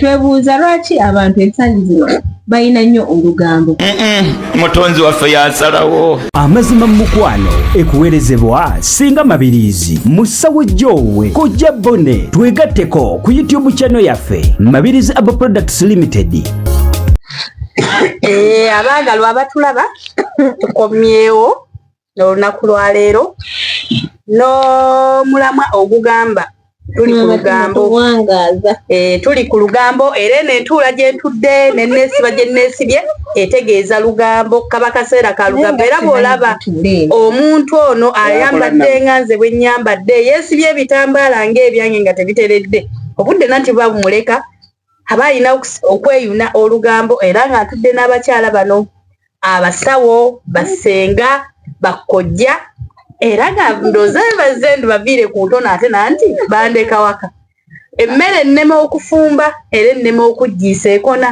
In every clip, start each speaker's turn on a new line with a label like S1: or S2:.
S1: kyetwebuuza lwaki abantu ensangi zino balina nnyo olugambo mutonzi
S2: waffe yasalawo amazima mu
S3: mukwano ekuweerezebwa singa mabiriizi mu ssawo gy'owe kojja bone twegatteko ku youtube chano yaffe mabirizi abo products limited eh,
S4: abaagalwa abatulaba tukomyewo olunaku lwaleero n'omulamwa ogugamba tuli ku lugambo eh, tuli ku lugambo era eno entuula gyentudde neneesiba gye nneesibye etegeeza lugambo kaba kaseera ka lugambo era bw'olaba omuntu ono ayambadde nga nze bwe nnyambadde yeesibye ebitambaala ng'ebyange nga tebiteredde obudde nanti buba bumuleka aba alina okweyuna olugambo era ng'atudde n'abakyala bano abasawo basenga bakkojja era nga ndooza bebazze nti baviire ku ntono ate nanti bandeka waka emmere ennema okufumba era ennema okuggiisa ekona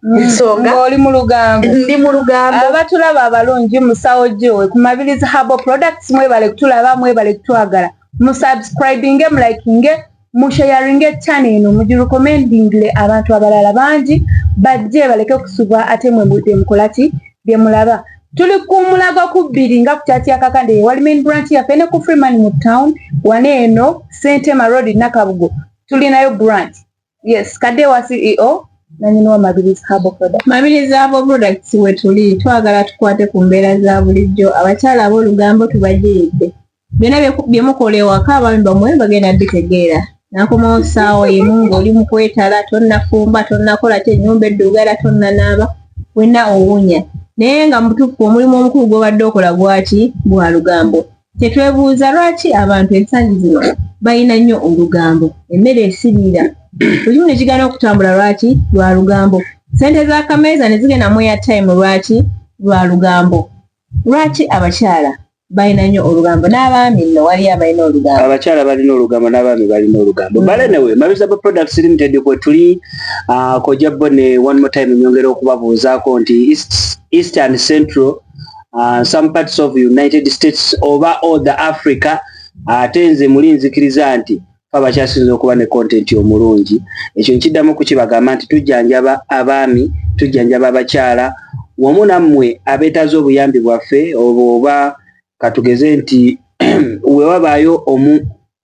S4: nsonga oli mu lugambo
S1: ndi mu lugambo
S4: abatulaba abalungi
S1: musawo gyowe ku mabirizi habo products mwebale kutulaba mwebale kutwagala musubscribinge mulikinge mushayaringe chana eno mugirekomendingile abantu abalala bangi bajje baleke kusubwa ate mwe byemukolaki byemulaba tuli ku mulago ku bbiri nga kukyatyakakande wali main branch yaffe ne ku freeman mu town wana eno sentema road nakabugo tulinayo branch yes kadde wa ceo nanyini wa mabirizi habo product mabirizi habo products wetuli twagala tukwate ku mbeera za bulijjo abakyala ab'olugambo tubajiridde byona byemukola ewaka abaami bamwe bagenda bitegeera nakomawo saawa emu ngaoli mukwetala tonnafumba tonnakola ki enyumba eddugala tonnanaaba wena owunya naye nga mubutuufu omulimu omukulu gwobadde okola gwaki gwa lugambo kyetwebuuza lwaki abantu ensangi zino balina nnyo olugambo emmere esiriira lulimu nekigana okutambula lwaki lwa lugambo sente za kameeza nezigenda mu ya time lwaki lwa lugambo Lwaki abakyala balina nnyo olugambo n'abaami nno waliyo abalina olugambo? Abakyala balina olugambo
S5: n'abaami balina olugambo. Mm. Bale newe Mabizaba Products Limited kwe tuli uh, kojja bo ne one more time nyongera okubabuuzaako nti East, East and Central uh, some parts of United States oba all the Africa ate uh, nze muli nzikiriza nti fe abakyasinza okuba ne kontenti omulungi ekyo nkiddamu kukibagamba nti tujjanjaba abaami tujjanjaba abakyala wamu nammwe abeetaaza obuyambi bwaffe obwo oba katugeze nti wewabaayo omu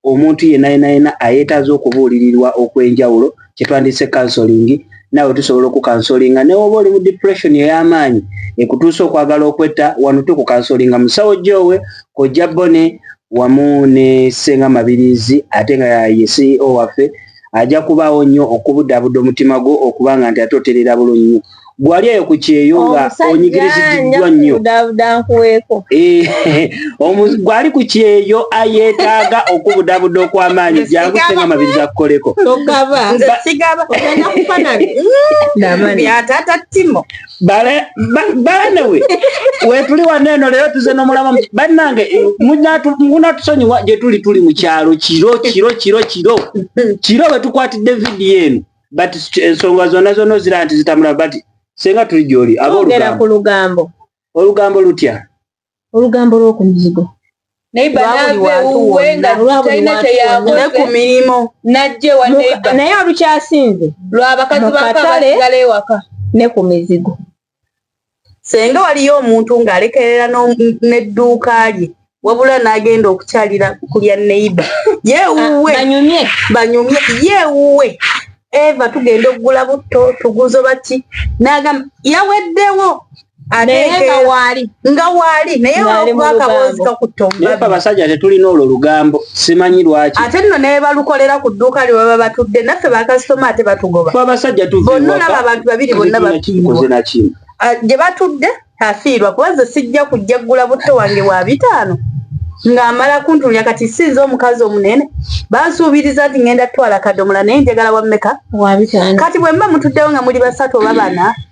S5: omuntu yenna yenna yenna ayeetaaza okubuulirirwa okwenjawulo kyetwandise kansolingi nawe tusobola okukansolinga newoba oli mu depression ey'amaanyi ekutuusa okwagala okwetta wano tukukansolinga musawo gyowe kojja bone wamu ne senga mabirizi ate nga ye ceo waffe ajja kubaawo nnyo okubudaabuda omutima gwo okubanga nti ate oterera bulunyi gwali eyo ku kyeyo nga onyigiriziddwa nnyo eh, gwali ku kyeyo ayetaaga okubudabuda okw'amaanyi jangu senga amabiriza kukoleko balanewe wetuli wano eno leero tuze nomulaba bannange munatusonyiwa gyetuli tuli mu kyalo kiro kiro kiro kiro kiro wetukwatidde vidiyo eno but ensonga zonna zonna ozira nti zitamula but senga tuli gyoli abogera ku lugambo
S1: olugambo lutya
S5: olugambo
S1: lw'oku mizigo naye olukyasinze lwabakazi
S4: bakatale ne ku mizigo senga waliyo omuntu ng'alekerera n'edduuka lye wabula n'agenda okukyalira ku lya neiba yewuwe ah, banyumye yewuwe eva tugenda okugula butto tuguzo baki nagamba yaweddewo nga waali naye olwokuba akaboozi kakutta omubabasajja tetulina
S5: olwo lugambo simanyi lwaki ate nno nebalukolera
S4: ku dduuka lye baba batudde naffe bakasitoma ate batugoba abasajja tubonna
S5: olaba abantu
S4: babiri bonna bakoze nakimu ah, gye batudde afiirwa kuba ze sijja kujja ggula butto wange wa bitaano ng'amala kuntulya kati sinza omukazi omunene bansuubiriza nti ngenda tutwala kadomola naye njagala wammeka kati
S1: bwe mba mutuddewo nga
S4: muli basatu oba bana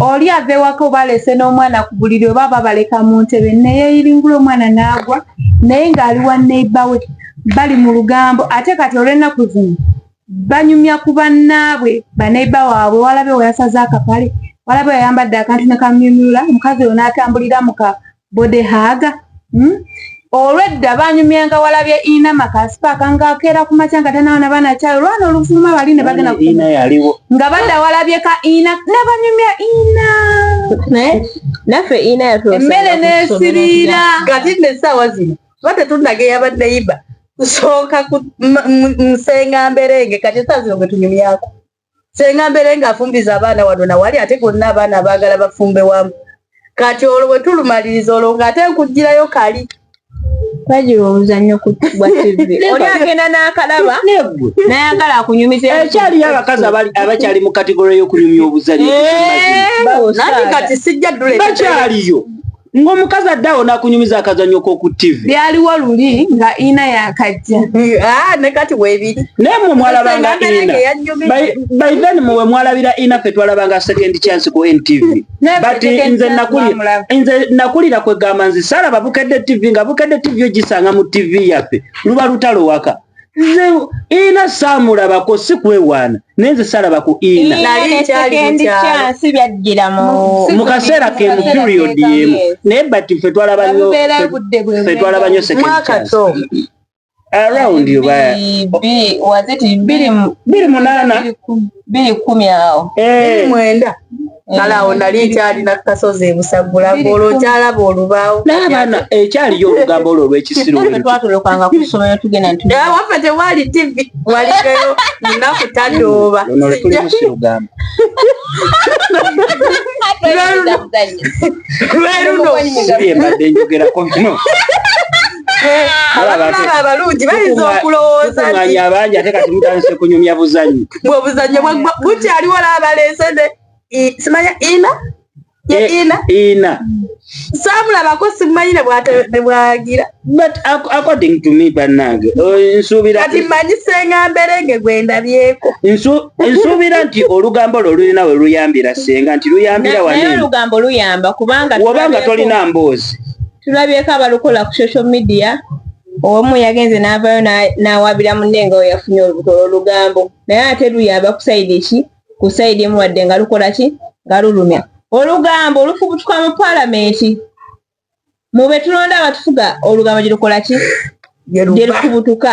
S1: oli ava ewaka oba aleese n'omwana ku buliri oba aba baleka mu ntebe neyeyiringula omwana n'agwa naye ng'ali wa neiba we bali mu lugambo ate kati olw'ennaku zino banyumya ku bannaabwe baneiba waabwe walabe weyasaze akapale walabe weyayambadde akantu ne kamyumyula mukazi oyo n'atambulira muka body hug hmm? olwedda banyumyanga walabye ina makasipaka ngakeera ku makya nga tanawo nabaana kyayo olwana oluvuma bali ne bagenda nga badda walabye ka ina nebanyumya ina
S6: naffe ina emmere
S1: nesiriira kati nesaawa
S4: zino tuba tetundaga eyabadde iba kusooka musenga mberenge kati esaawa zino gwetunyumyako senga mbere nga afumbiza abaana wano na wali ate gonna abaana abagala bafumbe wamu kati olwo bwe tulumaliriza olwo nga ate nkugirayo kali bagira
S6: omuzannyo kutibwa tivi oli agenda n'akalaba nayagala akunyumiza ekyaliyo abakazi
S5: abakyali mu kategore y'okunyumya obuzannyo eh,
S4: kati sijja dulabakyaliyo
S5: ng'omukazi addawo n'akunyumiza akazanyo k'oku ttivi byaliwo luli
S1: nga ina yakajja ah, ne kati
S4: webiri naye mwe mwalabanga
S5: ina by then mwe mwalabira ina fe twalabanga second chance ku ntv but nze nakulira nze nakulira kwegamba nze saalaba bukedde ttivi nga bukedde ttivi ogisanga mu ttivi yaffe luba lutalo waka nze ina samulabako si kwewaana naye nze salaba ku ina mu kaseera kemu period yemu naye but fe twalaba nyo fe twalaba nyo second chance around yo baya
S6: biri munana
S5: biri
S6: kumi awo eh. mwenda
S4: eh. kale awo nali nkyalina kukasozi ebusagula ngolo okyalaba olubaawo naabana ekyaliyo
S5: eh, olugambo olwo olwekisirotwatulukanga ku ssomero
S6: tugenda ntiwaffe tewali
S4: tivi waligeyo munaku tadooba lweruno lweruno
S5: abalungi
S4: bayinza okulowooza nti abangi ate
S5: kati mutandise kunyumya buzanyo bwe obuzanyo
S4: bukyaliwo laabalesede simanya ina Eh, ina ina samulabako simanyi nebwagira but
S5: according to me banange oh, nsuubira kati manyi senga
S4: mberenge gwendabyeko nsuubira
S5: nti olugambo lwo lulina we luyambira senga nti luyambira waneolugambo
S6: luyamba kubanga wobanga tolina
S5: mboozi tulabyeko
S6: abalukola ku social media omu yagenze n'avaayo n'awaabira munne nga weyafunye olubuto olwolugambo naye ate luyamba ku sayidi ki ku sayidi emu wadde nga lukola ki nga lulumya olugambo lufubutuka mu palamenti mu be tulonda abatufuga olugambo gye lukola ki gye lufubutuka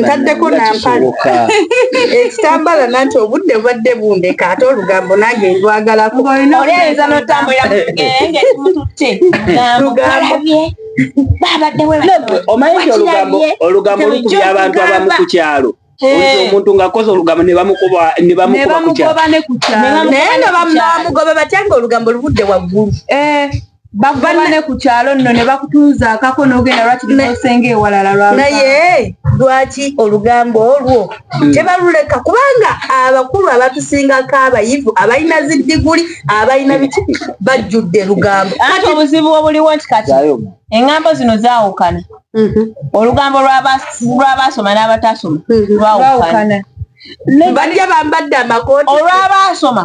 S4: ntaddeko nampale ekitambala nanti obudde bubadde bundeka ate olugambo nange ndwagalakoyinza
S6: notambulaomanyi
S5: nti olugambo lukubya abantu abamu ku kyalo omuntu ngakoze olugambo nebamukubakukyalo naye
S4: nga bamugoba batya nga olugambo lubudde waggulu
S1: bakubane ku kyalo nno ne bakutuuza akako n'ogenda lwaki tukosenga ewalala lwa naye
S4: lwaki olugambo olwo hmm. tebaluleka kubanga abakulu abatusingako abayivu abalina zi diguli abalina biki bajjudde lugambo ate obuzibu obuliwo
S6: nti kati engambo zino zaawukana mhm. olugambo lw'abaasoma n'abatasoma mhm. lwawukana
S4: bajja bambadde amakooti olw'abaasoma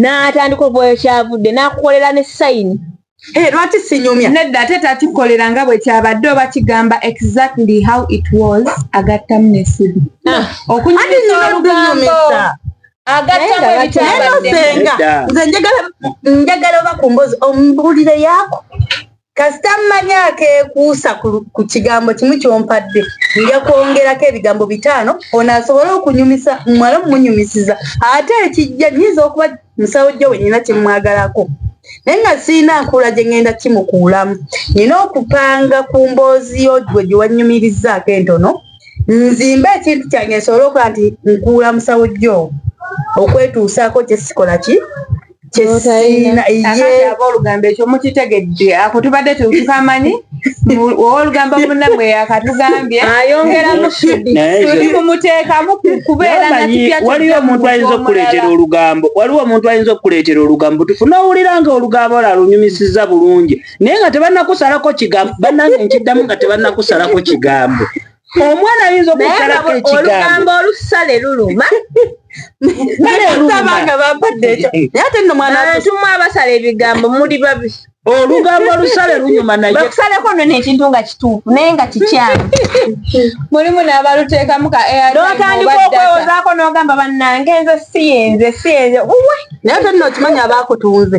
S6: n'atandika okuba wekyavudde n'akukolera ne sayini eh, lwaki
S4: sinyumya nedda ate takikolera
S1: nga bwe kyabadde oba kigamba exactly how it was agattamu nesibi ah. okunyumisa olugambo agattamuebitabaddeenga
S4: nze njagala oba ku mbozi omubuulire yaako kasita mmanya akeekuusa ku kigambo kimu kyompadde nja kwongerako ebigambo bitaano ono asobole okunyumisa muwala mumunyumisiza ate ekijja nyinza okuba musawo jjo wenyina kyemwagalako naye nga sirina nkuula gye ŋŋenda kimukuulamu nina okupanga ku mboozi yo gwe gye wannyumirizaako entono nzimbe ekintu kyange nsobole okuba nti nkuula musawo jjo okwetuusaako kye sikola ki kyesiinaolugamba
S1: ekyo mukitegedde ako tubadde tukamanyi owolugambo munamwe yakatugambye ayongeramu
S6: tuli mumuteekamu
S1: kubeera waliwo omuntu ayinza
S5: okukuleetera olugambo waliwo omuntu ayinza okukuleetera olugambo tufu nowulira nga olugambo lwo alunyumisiza bulungi naye nga tebanakusalako kigambo banange nkiddamu nga tebanakusalako kigambo omwana ayinza okusalako ekigambo
S6: olusale luluma
S4: naleabantu abasala
S6: ebigambo muli babi olugambo
S5: olusale lunyuma nayebakusaleko nono ekintu
S6: nga kituufu naye nga kikyamu mulimu
S1: nabaluteekamu ka notandika
S6: okwewozaako nogamba banange nze siyenze siyenze naye tolina okimanya
S4: abakutunze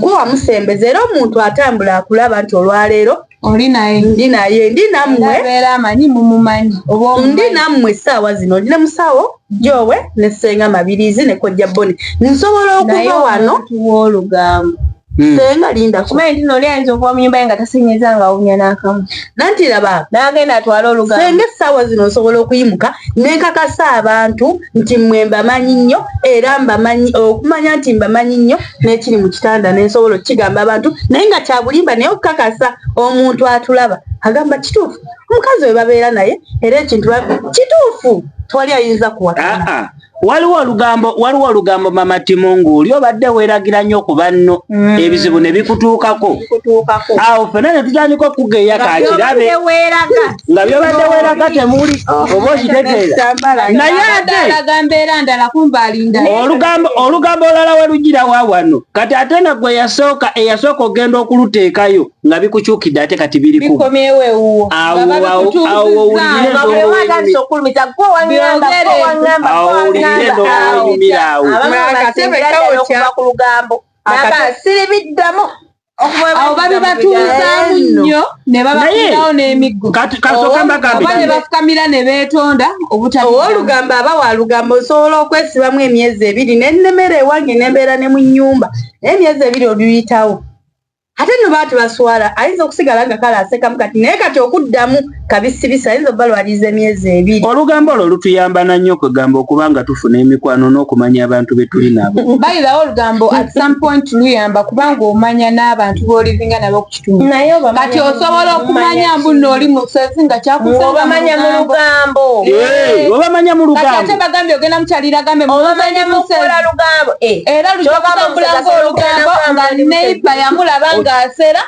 S4: gwe wamusembeza era omuntu atambula akulaba nti olwaleero oli naye ndi
S1: naye ndi
S4: nammwe amanyi
S1: mumumanyi ndi nammwe
S4: essaawa zino ndi ne musawo gyowe ne ssenga mabirizi ne kojja boni nsobola okuva wano wolugambo
S6: hmm. senga
S4: linda kumanyi tino oli ayinza okuba
S6: munyumba ye nga tasenyeza nga awumya n'akamu nanti laba
S4: nagenda atwala olugambo
S6: senga essaawa zino nsobola
S4: okuyimuka nenkakasa abantu nti mwe mbamanyi nnyo era mbamanyi okumanya nti mbamanyi nnyo n'ekiri mu kitanda nensobola okukigamba abantu naye nga kyabulimba naye okukakasa omuntu atulaba agamba kituufu omukazi we babeera naye era ekintu kituufu tewali ayinza kuwakana waliwo olugambo
S5: waliwo olugambo mama timungu oli obadde weeragira nnyo ku banno mm. ebizibu ne bikutuukako awo fena ne tutandika okugeya kakirabe nga byobadde weraga temuli oba okitegeera naye ate olugambo olala werujira wa wano kati ate nga gwe yasooka eyasooka ogenda okuluteekayo nga bikukyukidde ate kati birikuawowulirenokumiraawo
S1: awo babibatuuzaamu nnyo ne babafunawo n'emiggo oba ne bafukamira ne beetonda obutaowoolugambo
S4: aba wa lugambo osobola okwesibamu emyezi ebiri ne nnemera ewange ne mbeera ne mu nnyumba naye emyezi ebiri oluyitawo ate no baati baswala ayinza okusigala nga kale asekamu kati naye kati okuddamu kabisibisa ayinza okuba lwaliiza emyezi ebiri olugambo olwo lutuyamba
S5: na nnyo kwegamba okuba nga tufuna emikwano n'okumanya abantu be tuli nabo bayirawo olugambo
S1: at some point luyamba kubanga omanya n'abantu b'olivinga nabo ku kitundu kati osobola okumanya mbu nno oli musozi nga kyakuobamanya mu
S6: lugambo obamanya
S5: mu lugambo ate bagambye ogenda
S1: mukyalira gambe obamanya mu kukola
S6: lugambo eh. era lujja
S1: kutambula ng'olugambo nga neiba yamulaba ng'asera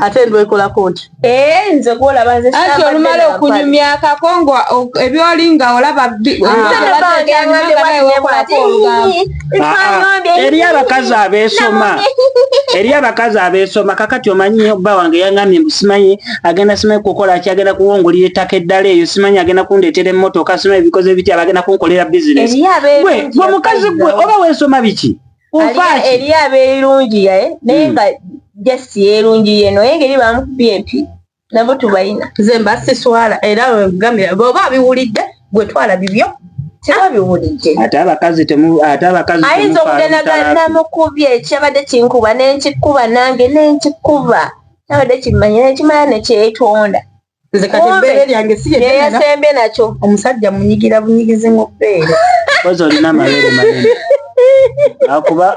S4: ate ndwekolako nti eh, nze gwolaba
S6: nze ati olumala okunyumya
S1: akako nga ebyoli nga olaba
S5: eri abakazi abesoma eri abakazi abesoma kakati omanyi bba wange yangambye mbu simanyi agenda simanyi kukola ki agenda kuwongulira ettaka eddala eyo simanyi agenda kundeetera emmotoka simanyi ebikoze bitya bagenda kunkolera bizinesi gwe omukazi gwe oba wesoma biki eriyo
S6: abeerungiya eh? naye hmm. nga just yeerungiye no naye ngeri bamukubye empi nabo tubalina nze mba siswala
S4: era wegambira bwoba abiwulidde gwe twala bibyo ate
S6: abakazi
S5: ate abakazi ayinza
S6: okugenda ganamukubye kyabadde kinkuba nenkikuba nange nenkikuba nabadde kimanya nekimala nekyetonda nze kati
S4: ebbeere lyange si yeyasembye nakyo
S6: omusajja munyigira
S4: bunyigizi mu bbeere kozi olina
S5: amabeere manene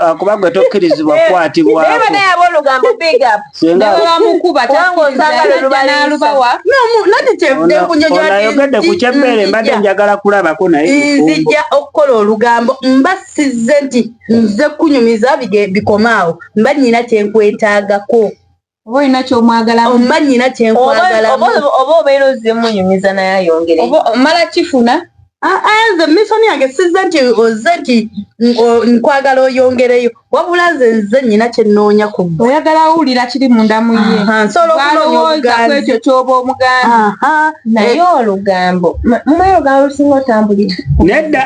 S5: akuba gwe tokkirizibwa
S1: kukwatibwaayogedde
S5: ku kyebbeere mbadde njagala kulabako nayenzija okukola
S4: olugambo mba sizze nti nze kunyumiza bikomaawo mba nyina kyenkwetaagako oba olina
S1: kyomwagala oba nyina
S4: kyenkwagalaaoba
S1: obeera
S6: ozimunyumiza naye ayongere
S1: omala
S6: kifuna ah,
S4: ah, nze misoni yange sizze nti ozze nti nkwagala oyongereyo wabula nze nze nyina kyenoonya ku gwe oyagala awulira kiri
S1: munda mu ye nsolowooza ku ekyo kyoba omuganda naye
S6: olugambo mumaye olugambo lusinga otambulira nedda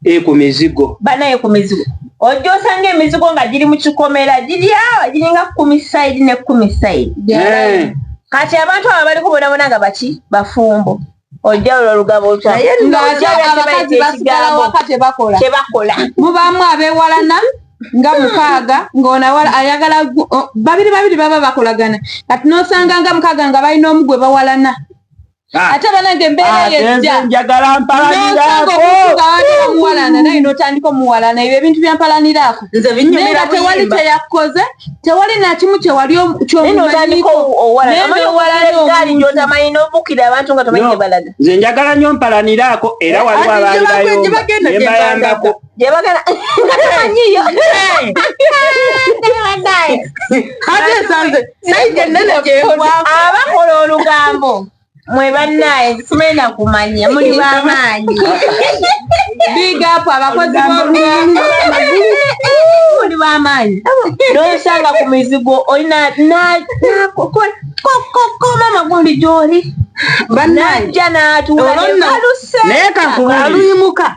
S5: e ku mizigo banaye ku mizigo
S6: ojja osanga emizigo nga giri mu kikomera giri awa giringa kumi saidi ne kumi saidi eh. kati abantu abo bali kubonabona nga baki bafumbo ojja olwo olugabo okyabakazi
S1: basigala waka tebakola tebakola mubaamu abewalana nga mukaaga ng'onawala ayagala babiri babiri baba bakolagana kati n'osanga nga mukaaga nga balina omu gwe bawalana Ah. ate banange embeera ah, yejjanjagala
S5: mpalanirakomuwalana
S1: naye notandika omuwalana ebyo ebintu byampalaniraako naye tewali kyeyakoze tewali nakimu kyewali kyomumanyikonze
S5: njagala nyo mpalaniraako era waliwo abaalibayombaembayambako gyebagala
S6: katamanyiyo abakola olugambo mwe bannaye simena kumanya muli bamaanyi
S1: bigapu abakozi b'olugambo
S6: muli bamaanyi nosanga ku mizigo olina mama gundi gyoli najja natuula naye
S5: kakubaluyimuka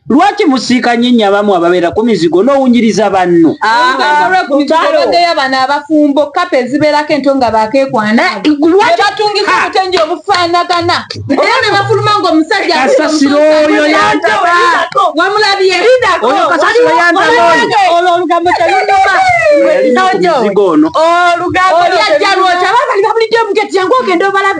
S5: lwaki musiika nyo enyo abamu ababeera ku mizigo n'owunyiriza banno olwekubaageya
S1: bano abafumbo kapa ezibeerako ento nga bakekwana nebatungisa obutengi obufaanagana era nebafuluma nga omusajja kasasiro oyo
S5: yantaba wamulabye
S1: oyo
S5: kasasiro yantaba olwo olugambo
S1: telunuma
S5: olugambo olyajja
S1: lwokya babalibabulidde omuketi yangu ogenda obalabe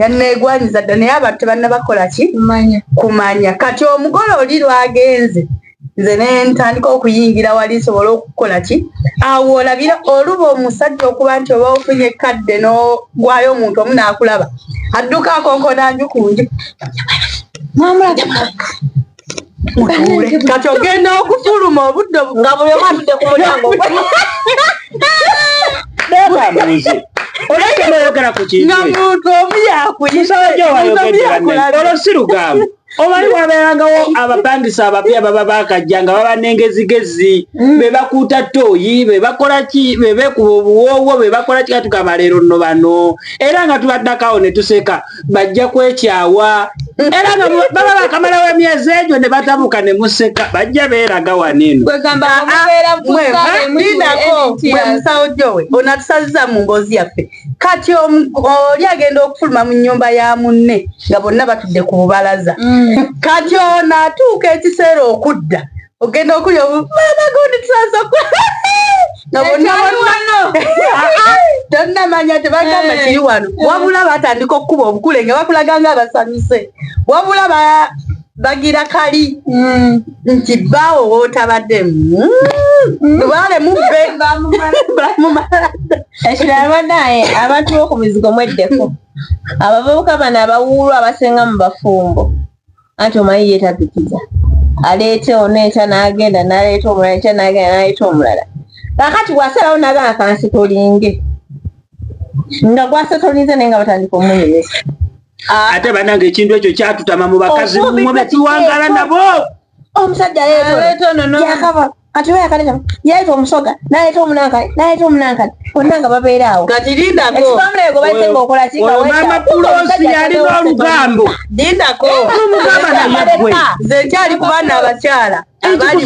S4: yanneegwanyiza dda naye abantu tebannabakola ki kumanya kati omugole oli lwagenze nze nentandika okuyingira wali nsobola okukola ki awo olabira oluba omusajja okuba nti oba ofunye ekkadde n'ogwayo omuntu omu naakulaba adduka akonkona nju ku nju mutuule kati ogenda okufuluma obudde nga buli omu
S6: atudde
S5: ku mulyango olekenoyogera ku kintu nga muntu omu
S4: yakuyisaoyakulaolo
S5: si lugambo omanyi wabeerangawo abapangisa abapya baba bakajja nga baba nengezigezi mm. bebakuuta tooyi bebakolaki bebekuba obuwoowo bebakolaki katugamba leero nno bano era nga tubaddakawo ne tuseka bajja kwekyawa era baba bakamalawo emyezi egyo ne batabuka ne museka bajja beeraga wanenomwemusawojowe
S4: ah, ah, onatusaziza mu mboozi yaffe kati oli agenda okufuluma mu nyumba ya munne nga bonna batudde ku bubalaza mm. kati ono atuuka ekiseera okudda ogenda okulya omwana gundi tusaza tonnamanya tebagamba kiri wano eh. wabula batandika okukuba obukule nga bakulaga nga abasanyuse wabula bagira kali mm. nti baawo wotabadde mm. lubaale mubbe
S6: ekiralwa naye abantu bokumizigo mweddeko abavubuka bano abawuulu abasinga mu bafumbo anti omanyi ye tapikiza aleeta ono enkya n'agenda n'aleeta omulala enkya n'agenda n'aleeta omulala kakati bw'asalawo n'agamba kansitolinge nga gwasetolinze naye nga batandika omunyumisa ah. ate
S5: banange ekintu ekyo kyatutama mu bakazi mwe betuwangala nabo omusajja
S6: yeeto ono yakaba kati we yakale kati yaita omusoga naita omunankale naita omunankale bonna nga babeera awo kati lindako
S4: ekifamulego baite nga
S6: okola kika wemama pulosi
S5: yalina olugambo lindako
S4: omugamba nayegwe nze nkyali
S5: ku baana
S4: abakyala
S5: abali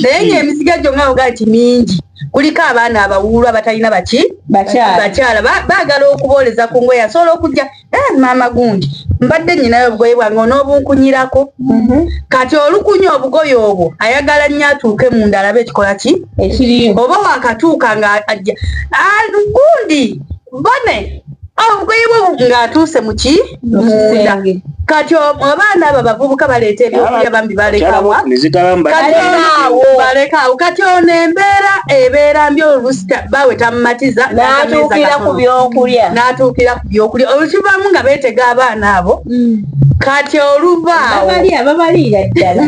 S5: naye nga emisiga gyo nga ogaa
S4: nti mingi kuliko abaana abawuulu abatalina baki bakyala bagala okubooleza ku ngoye asobola okujja Eh, maama gundi mbadde nyinayo obugoye bwange on'obunkunyirako mhm. kati olukunya obugoye obwo ayagala nnyo atuuke munda alabe ekikola ki oba wakatuuka nga ajja ah, gundi bone obugoye bwo ng'atuuse mu ki munda kati abaana abo abavubuka baleeta ebyokulya bambi balekawa balekaawo kati ono embeera ebeera mbi olusi bawe tamumatiza n'atuukira ku
S6: byokulya n'atuukira yokulya olukivaamu nga beetega abaana abo mm. kati oluvaawobabalira ddala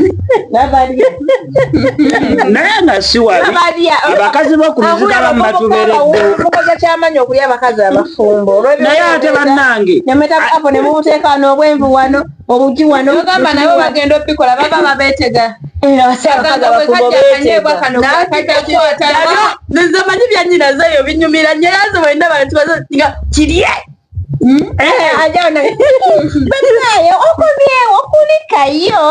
S5: naye nga siwaabakazi bokumiziga bamu batubereddeokoza kyamanyi okulya
S6: abakazi abafumbo naye ate
S5: bannange nemuteekawo
S6: n'obwenvu wano obugi wano ogamba nabo bagenda obikola baba babetega
S4: nzemanyi byanyina zeyo binyumira nyo yaze wenda bantu bazoga kirye hmm? eh, ajana
S6: banaye okomyewo kulikayo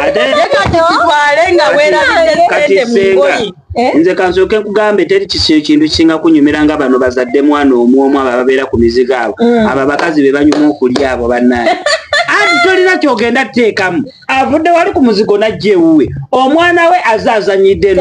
S6: ate kati
S4: kitwale nga werabidde sente mu ngoyi Eh? nze kansooke
S5: nkugambe teri kintu kisinga kunyumira nga bano bazadde mwana omu omu abo ababeera ku mizigo abo mm. abo abakazi be banyuma okulya abo bannaye anti tolina kyogenda teekamu avudde wali ku muzigo najja ewuwe omwana we aze azanyidde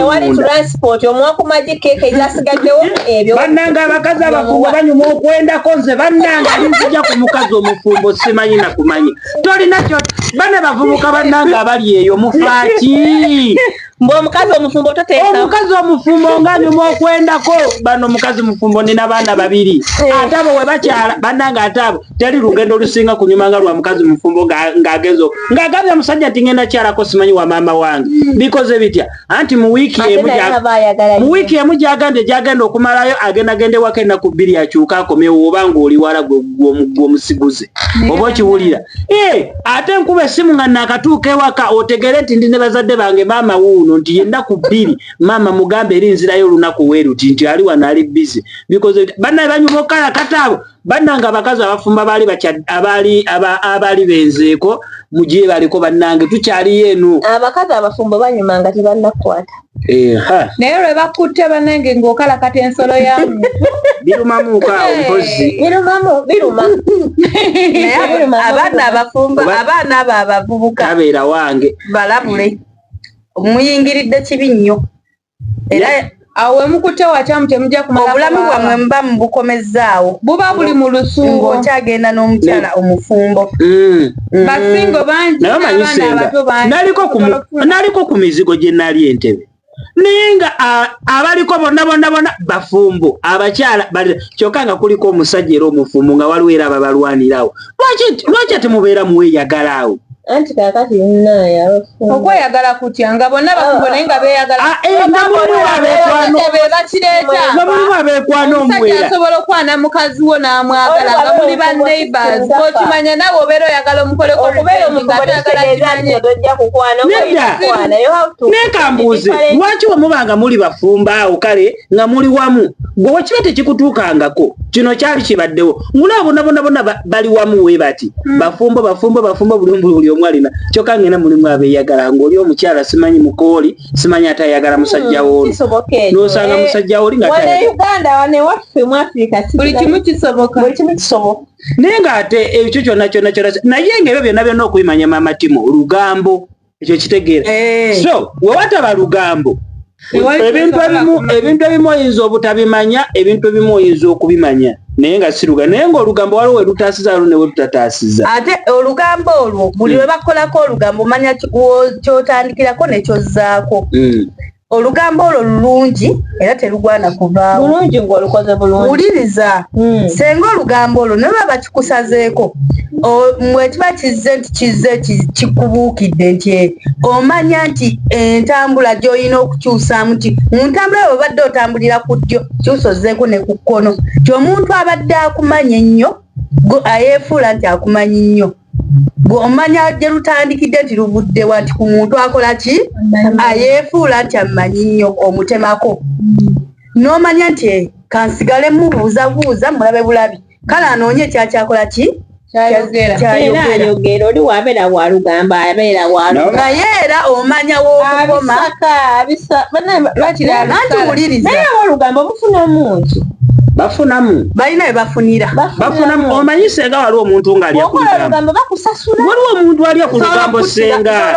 S5: nbannanga abakazi abafumbo banyuma okwendako nze bannanga linzija ku mukazi omufumbo simanyi nakumanya tolina kyo bane bavubuka bannanga abali eyo mufaaki mbu omukazi
S6: omufumbo toteekaomukazi omufumbo
S5: nga nyuma okwendako bano omukazi mufumbo nina baana babiri eh. ate abo we bakyala banange ate abo teri lugendo olusinga kunyuma nga lwa mukazi mufumbo ng'agenzo ng'agambye omusajja nti ngenda kyalako simanyi wa maama wange hmm. bikoze bitya anti mu wiiki emu mu wiiki emu gyagambye gyagenda okumalayo agenda genda ewako ennaku bbiri akyuka akomewo oba ng'oliwala gw'omusiguze oba okiwulira Eh, ate nkuba essimu nga nakatuuka ewaka otegere nti ndi ne bazadde bange maama wuuno nti yennaku bbiri maama mugambe eri nzirayo olunaku weeruti nti ali wano ali bizi bikoze bannaye banyuma okukalakata abo bannange abakazi abafumba baali abaali abaali benzeeko mu gye baliko bannange tukyaliyo eno abakazi abafumbo
S6: banyuma nga tebannakukwata naye
S1: lwe bakutte banange ng'okalakata ensolo ya muntu birumamuuka
S5: awo mpozi abaana
S4: abafumba abaana abo abavubuka abeera wange
S5: balabule
S4: muyingiridde kibi nnyo era awo wemukutte
S1: wakyamu temujja kumala obulamu bwamwe muba
S4: mubukomezzaawo buba buli mu
S1: lusungu okyagenda n'omukyala
S4: omufumbo mm. mm.
S1: basingo bangi naye omanyi senga naliko
S5: ku mizigo gye nali entebe naye nga abaliko bonna bonna bonna bafumbo abakyala kyokka nga kuliko omusajja era omufumbo nga waliwo era ababalwanirawo lwaki ate mubeera muweeyagala awo anti kakati
S6: nnaye okweyagala
S1: kutya nga bonna bakubo naye nga beeyagalabebakireetaomulimu
S5: abeekwana omusajja asobola okwana mukazi
S1: wo n'amwagala nga muli ba neighbors okimanya nawe obeera oyagala omukoleko
S5: naye kambuuze lwaki wemubanga muli bafumba awo kale nga muli wamu gwe wakiba tekikutuukangako kino kyali kibaddewo ngulaabonabonabona bali wamu we bati hmm. bafumbo bafumbo bafumbo bulumbu buli omu alina kyokka ngena mulimu abeeyagala ng'oli omukyala simanyi mukooli simanyi atayagala musajja hmm, wooli n'osanga eh, musajja wooli nga naye ng'ate ekyo kyonna kyonna kyonna naye ng'ebyo byonna byonna okubimanya maama timo olugambo ekyo kitegeera eh. so wewataba lugambo ebintu ebimu ebintu ebimu oyinza obutabimanya ebintu ebimu oyinza okubimanya naye nga siruga naye nga olugambo waliwo welutaasiza lu newe lutataasiza ate olugambo
S4: olwo buli lwe hmm. bakolako olugambo omanya kyotandikirako nekyozzaako hmm. olugambo olwo lulungi era terugwana kuvaawo bulungi ngaolukoze
S6: bulungi wuliriza hmm.
S4: senga olugambo olwo nolwa bakikusazeeko mwekiba kizze nti kizze kikubuukidde nti eh, omanya nti entambula gyolina okukyusaamu ti mu ntambula yo obadde otambulira ku ddyo kyusa ozeeko ne ku kkono ti omuntu abadde akumanya ennyo gwe ayefuula nti akumanyi nnyo gwe omanya gye lutandikidde nti luvuddewa nti ku muntu akola ki ayefuula nti amanyi nnyo omutemako n'omanya nti eh, kansigale mubuuzabuuza mulabe bulabi kale anoonye ekyakyakola ki
S6: naye era omanya
S4: wokoma
S6: bafunamu
S5: balina webafunira
S4: bafunamu omanyi
S5: senga waliwo omuntu nga alyaolugambo bakusasula waliwo
S6: omuntu alya ku
S5: lugambo senga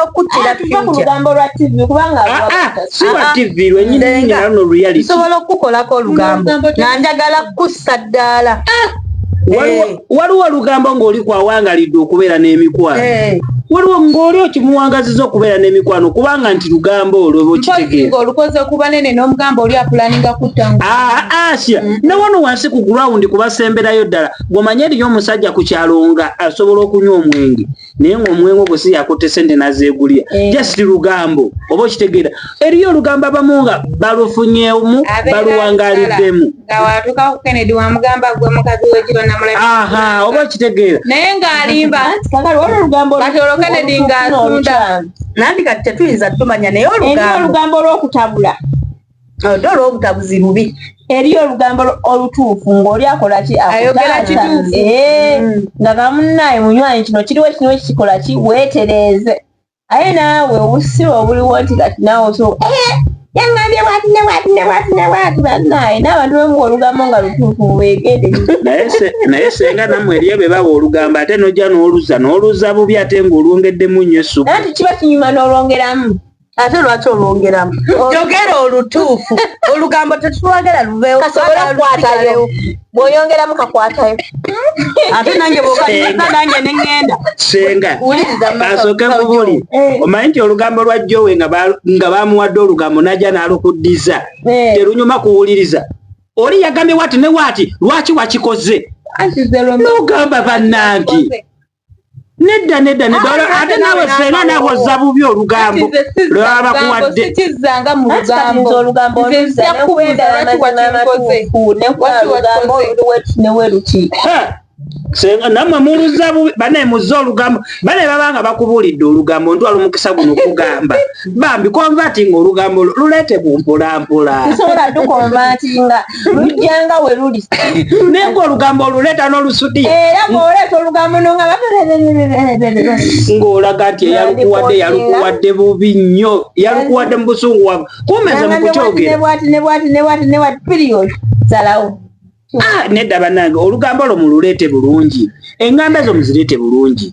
S6: siwa
S5: tv lwenyininyinalano luyalisobola okukukolako
S4: olugambo nga njagala kukussa ddaala eh.
S5: waliwo olugambo ng'oli kwawangalidde okubeera n'emikwano eh. waliwo ng'oli okimuwangaziza okubeera n'emikwano kubanga nti lugambo olwo bwokitegeera olukoze okubanene
S1: n'omugamba oli apulaninga kutta ah, ah, asia
S5: mm. ne wano wansi ku gulawundi kubasemberayo ddala gwomanye eriyo omusajja ku kyalo nga asobola okunywa omwenge naye ng'omwengo gwe si yakutte sente nazeegulira eh. just lugambo oba okitegeera eriyo olugambo abamu nga balufunyemu baluwangaliddemu
S1: oba okitegeera
S5: naye ng'alimba
S1: nandi kati
S4: tetuyinza tumanya naye olugambo
S6: olw'okutabula odola
S4: obutabuzi bubi eriyo olugambo
S6: olutuufu ngaoli akolaki ayogera kituufu
S1: eh, mm. nga
S6: kamunaye munywanyi kino kiriwo kino ekikolaki wetereeze aye naawe obusiba obuliwo nti kati naawe oso eh, yangambye bwati ne bwati ne bwati ne bwati banaye n'abantu bemu olugambo nga lutuufu mubegede naye
S5: senga namwe eriyo be bawa olugambo ate nojja n'oluza n'oluza bubi ate ng'olwongeddemu nnyo essuku nti kiba kinyuma
S6: n'olwongeramu ate lwaki
S4: olwongeramu yogera olutuufu olugambo tetulwagala luvewo kasobola okukwatayo
S6: bwoyongeramu kakwatayo ate
S4: nange bwokaaa nange neŋenda senga
S5: asooke mubuli eh. omanyi nti olugambo lwa jowe nga bamuwadde olugambo naja nalukuddiza eh. terunyuma kuwuliriza oli yagambye wati ne wati lwaki wakikoze nogamba banange nedda nedda nedda ah, ate nawe fena nawe ozza bubi olugambo lwaba kuwadde sikizzanga mu
S1: lugambo olugambo nzija kubuuza lwaki wakikoze
S5: namwe muluza bubi banaye muzza olugambo banaye babanga bakubuulidde olugambo ntwala omukisa guno okugamba bambi konvatinga olugambo luleete bumpulampulansobola
S6: tukonvatinga lujjanga we luli naye ng'olugambo
S5: oluleeta n'olusudi era ng'oleeta
S6: olugambo nonga ng'olaga
S5: nti eyalukuwadde yalukuwadde bubi nnyo yalukuwadde mu busungu wamu kumeza mu kukyogera
S6: salawo ah, nedda
S5: banange olugambo lwo mululeete bulungi engamba zo muzireete bulungi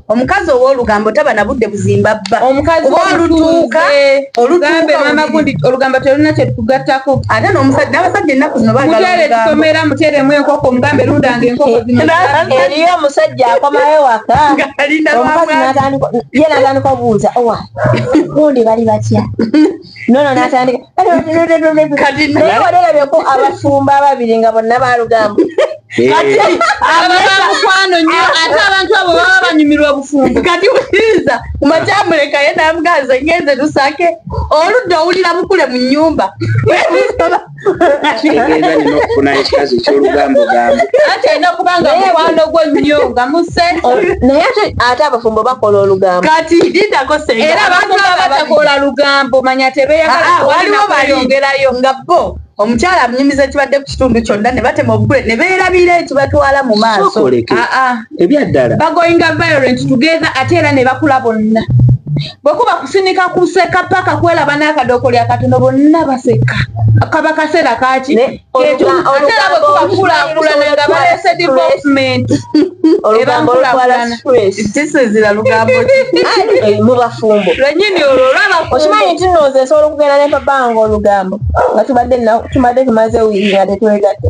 S4: omukazi owolugambo taba nabudde buzimba bba
S1: olutuuka olugambo telulina kyetukugattako ate nomusajja
S4: abasajja ennaku zino mutere tusomera
S1: muteremu enkoko mugambe lundanga enkokoeriyo omusajja
S6: akomayo waka omukazi ye natandika obuuza owa gundi bali batya nono natandika kati naye walerabeko abafumba ababiri nga bonna balugamba Eh. kati
S1: ababamukwano nyo ah. ate abantu abo baba banyumirwa obufumbo kati wuliriza
S4: kumakyamuleka ye namugaza ngenze lusake oludda owulira bukule mu nyumba kitegeeza
S5: nina okufuna ekikazi ekyolugambo gambo ati alina kuba nga
S1: mukwano gwo nnyo nga muse naye ate
S6: ate abafumbo bakola olugambo kati didako se
S4: era abantu abatakola
S1: lugambo manya tebeyagala ah, ah, waliwo bayongerayo
S4: nga bo omukyala amunyumiza ekibadde ku kitundu kyonna ne batema obugule ne beerabira ekibatwala mu maaso ah, ebyaddala
S5: bagoinga violent
S1: together ate era ne bakula bonna bwe kuba kusinika kuseka paka kwelaba n'akadoko lya katono bonna baseka kaba kaseera kaki etuaseera bwe kuba kukulakulana nga balese development
S6: ebankulakulanakisizira
S4: lugambo eh, mu
S6: bafumbo lwenyini olwo
S1: olwabaokimanyi nti nooze nsobola
S6: okugenda ne papa wange olugambo nga tubadde tubadde tumaze wiiri nga tetwegatte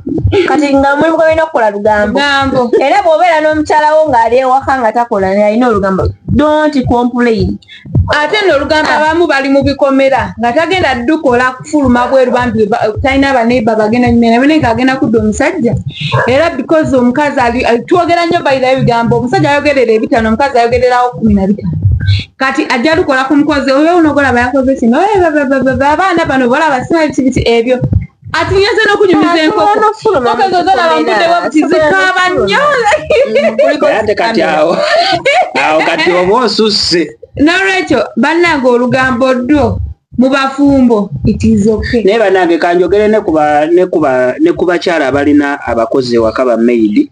S6: kati nga mulimu gwe balina okukola lugambo era bw'obeera n'omukyala wo ng'ali ewaka nga takola naye alina olugambo don't complain ate no
S1: olugambo ah. abamu bali mu bikomera nga tagenda dukola kufuluma bweru bambi talina abaneiba bagenda nyumira naye nga agenda kudda omusajja era because omukazi ali twogera nnyo bayira ebigambo omusajja ayogerera ebitano omukazi ayogererawo kumi na bitano kati ajja lukola ku mukozi oyo onogola bayakoze kino abaana bano bola basimaekibiti ebyo atinyaze n'okunyumiza enkokokaaba nnyo
S5: ate kati awo awo kati oba osusse n'olwekyo
S1: bannange olugambo ddwo mu bafumbo itizoke naye bannange kanjogere
S5: ne ku bakyala abalina abakozi ewaka ba maidi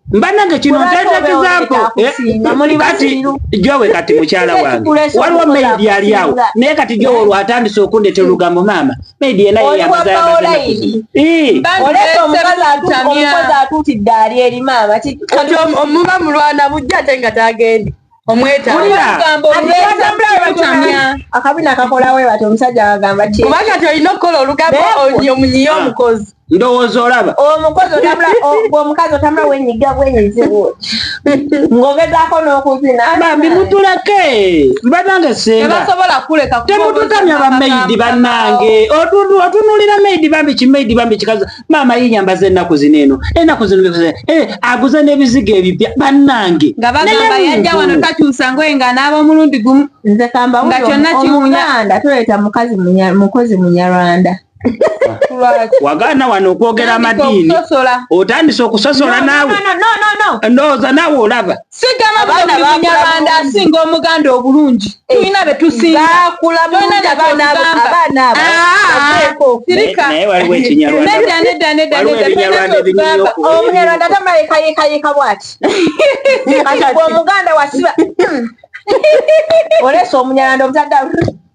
S5: mbanange kino ntetekizaako eh, kati jowe kati mukyala wange waliwo maidi ali awo naye kati jowe olwo atandise okundetera olugambo maama maidi yena yeyamuzayamukozi
S6: atutidde ali eri maama kati omuba
S4: mulwana bujja ate nga tagende
S6: akabina kakolawe bati omusajja agamba kuba kati olina okukola
S4: olugambo omunyiye omukozi ndowooza olaba
S5: omukozi otambula
S6: omukazi otambula wenyiga bwenyizibu ng'ogezaako n'okuzina bambi mutuleke
S5: banange sengatebasobola kuleka temututamya bameyidi banange otunulira meyidi bambi kimeyidi bambi kikazi maama yenyambaza enaku zino eno enaku zino eh, aguza nebizigo ebipya banange nga bagamba yajja
S1: wano takyusa ngoye nga anaaba omulundi gumu nze kambaga
S6: kyonna kiwunyanda tuleeta mukazi mukozi munyarwanda
S5: wagaana wano okwogera amadiini otandise okusosola naawe ndowooza naawe olaba sigamba munyarwanda
S1: asinga omuganda obulungi eh, tulina betusingaomunyarwanda
S6: tamayekayekayeka bwati omuganda wasiba olesa omunyarwanda obutadda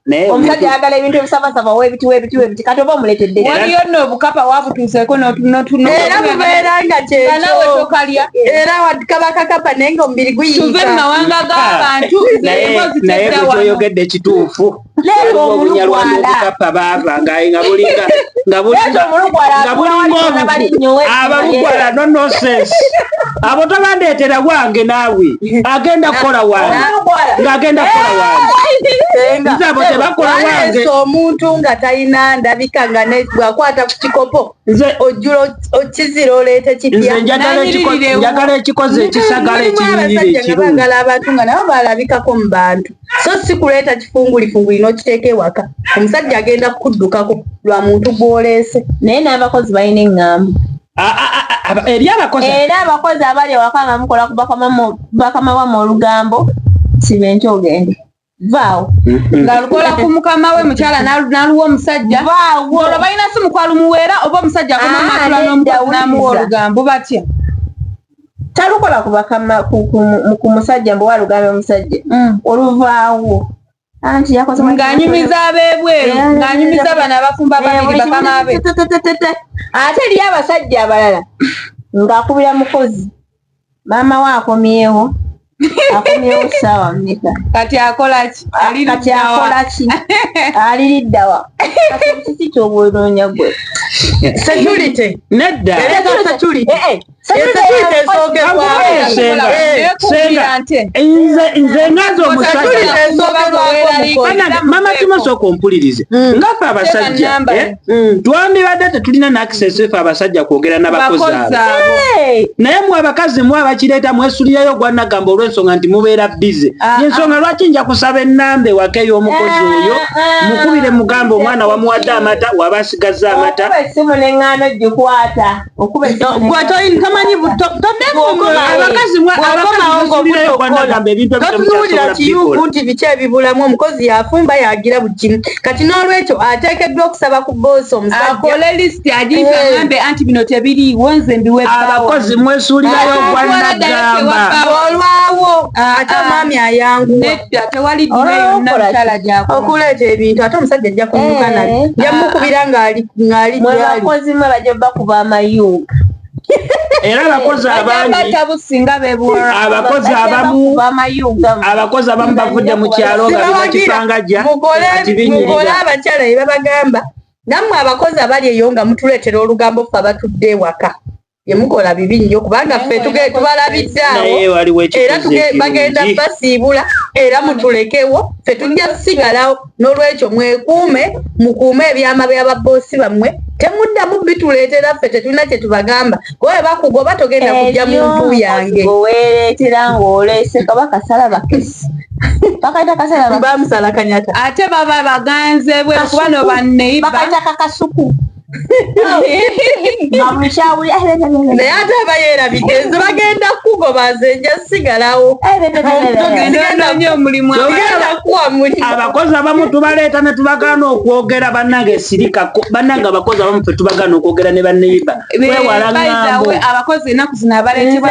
S6: naye omusajja ayagala ebintu ebisabasaba webiti webiti webiti kati oba omuletedde waliyo no obukapa
S1: wabutuuseko notunotunoera
S4: mubeera nga kyekanawe tokalya era kaba kakapa naye nga omubiri guyinza mu mawanga
S1: g'abantu naye
S5: kyoyogedde kituufu leero omulugwalaobukapa baava nga nga bulinga nga bulinga obukapa abalugwala no nonsense abo tobandeetera wange naawe agenda kukola wange ng'agenda kukola wange nze abo tebakola wange omuntu nga
S4: talina ndabika nga bwakwata ku kikopo nze ojjula okizira oleeta kipya njagala
S5: ekikozi ekisagala ekinyirira ekirunbagala abantu nga nabo
S4: balabikako mu bantu so si kuleeta kifungulifunguli n'okiteeka ewaka omusajja agenda kukuddukako lwa muntu gw'oleese naye n'abakozi
S6: balina eŋŋamba
S5: eri abakozi era abakozi abali
S6: awaka nga mukola ku bakama wamwe olugambo sibenki ogende vaawo mm-hmm. nga lukola
S1: ku mukama we mukyala naluwa omusajja olwo balina si mukwalo muweera oba omusajja akomamatula ah, n'omukozi namuwa olugambo batya
S6: talukola ku bakama ku musajja mbuwa lugambo omusajja mm. oluvaawo ng'anyumiza ab'ebweru
S1: ng'anyumiza bano abafumba babiri bakama be ate
S6: eriyo abasajja abalala ng'akubira mukozi maama we akomyewo akomyewo saawa mmeka kati akolaki
S1: kati akolaki
S6: aliriddawa kati kiki kyobwonoonya gwe security
S4: nedda
S5: era security eh, eh. nze ngaza omusajjamama tumaso okumpulirize mm. nga ffe abasajja eh? mm. twandibadde tetulina nakiseso efe abasajja kwogera nabakozi naye mwe abakazi mwe abakireeta mwesulirayo ogwanagamba olwensonga nti mubeera bize ah, ah. yensonga lwaki nja kusaba enamba ewaka ey'omukozi ah, oyo mukubire mugamba omwana wamuwadde amata waba asigazza amata totunuulira kiyuuku
S4: nti biki ebibulamu omukozi yafumba yagira buli kimu kati n'olwekyo ateekeddwa okusaba ku boosi
S1: omusajjaabakozi mwesuulirayo
S5: ogwanagamba olwawo
S4: ate omwami ayanguwa kujja tewali dina oh,
S1: yonna mukyala gyako okuleeta ebintu ate
S4: omusajja ajja kunyuka eh, nali nja ah, mukubira ah. ng'ali ng'ali mwe bakozi
S6: mwe bajja bakuba amayunga
S5: era abakozi abangiabakozi abamu abakozi abamu bavudde mu kyalo nga bibakipanga gya mukole
S4: abakyala bye babagamba nammwe abakozi abali eyo nga mutuleetera olugambo ffe abatudde ewaka yemukola bibi nnyo kubanga ffe tubalabidde awo era bagenda basiibula era mutulekewo ffe tujja kusigalawo n'olwekyo mwekuume mukuume ebyama bya babboosi bammwe temuddamu bituleetera ffe tetulina kye tubagamba kuba we bakugoba togenda kujja mu ntu yange weereetera
S6: ng'oleese kaba kasala bakesi bakaita kasala bamusala kanyata
S4: ate baba
S1: baganze bwe kuba no banneibba bakaita kakasuku
S4: naye ate aba yeerabidde nze bagenda kukugoba nze nja sigalawo
S5: abakozi abamu tubaleeta ne tubagaana okwogera bannange sirika bannange abakozi abamu fe tubagaana okwogera ne baneiba wewalaaabakozi enaku zino
S1: abaleetebwa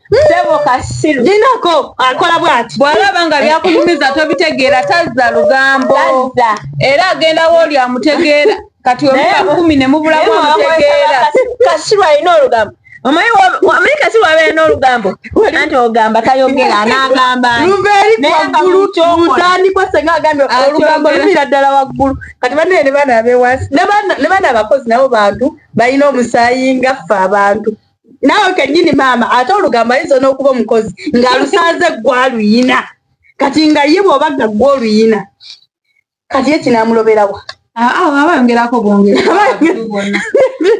S4: Sebo kasiru.
S6: Dinako akola
S4: bwati. Bwalaba nga byakunyumiza
S1: tobitegeera tazza lugambo. Tazza. Era agenda woli amutegeera. Kati omuka kumi ne mubula kwa mutegeera. Kasiru alina
S6: olugambo. Omanyi omanyi kasiru abeera n'olugambo. Anti ogamba tayogera n'agamba. Lubeeri waggulu
S4: mutandikwa senga agambye olugambo luviira ddala waggulu. Kati banne ne baana abeewansi ne baana abakozi nabo bantu balina omusaayi nga ffe abantu. naawe kenyini maama ate olugambo ayinza n'okuba omukozi ng'alusanze gwaluyina kati nga ye bwoba nga gwa oluyina kati ye kinamuloberawa ah, ah,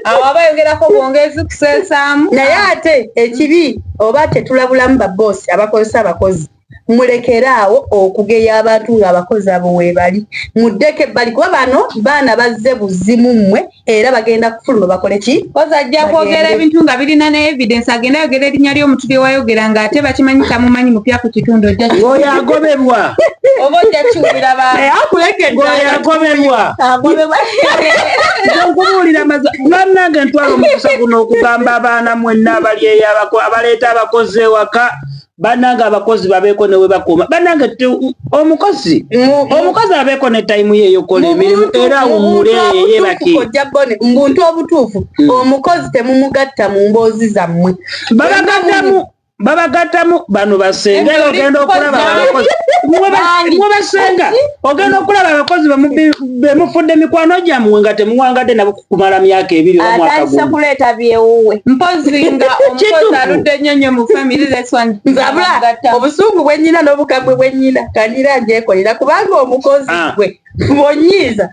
S4: abo abayongerako
S1: bwongezi kusesaamu naye ate
S4: ekibi oba tetulabulamu baboosi abakozesa abakozi mulekeraawo okugeya abantu ng'abakozi abo weebali muddeko ebbali kuba bano baana bazze buzimu mmwe era bagenda kufuluma bakole ki kozi ajja kwogera
S1: ebintu nga birina ne evidence agenda ayogera erinnya ly'omuntu lye wayogera ng'ate bakimanyi tamumanyi mupya ku kitundu oyo agobebwa
S5: oba ojja
S1: kiwulira
S5: baoyagoberwa nkubuulira mazi bannange ntwala omukisa guno okugamba abaana mwenna abali eyabako abaleeta abakozi ewaka banange abakozi babeeko ne webakoma banange omukozi omukozi abeeko ne tayimu ye eyokola emirimu era awumule yebake mbuntu
S4: obutuufu hmm. omukozi temumugatta mu mboozi zammwe babagattamu
S5: babagattamu bano basenga era ogenda okulaba abakozi mwe basenga ogenda okulaba abakozi bemufudde mikwano gyammwe nga temuwangadde nabo kumala myaka ebiri oba mwaka gumu atandise kuleeta byewuwe
S6: mpozi nga
S1: omukozi aludde nnyo nnyo mu family this one nzabula
S4: obusungu bwennyina n'obukambwe bwennyina kandira njekolera kubanga omukozi ah. gwe bonyiiza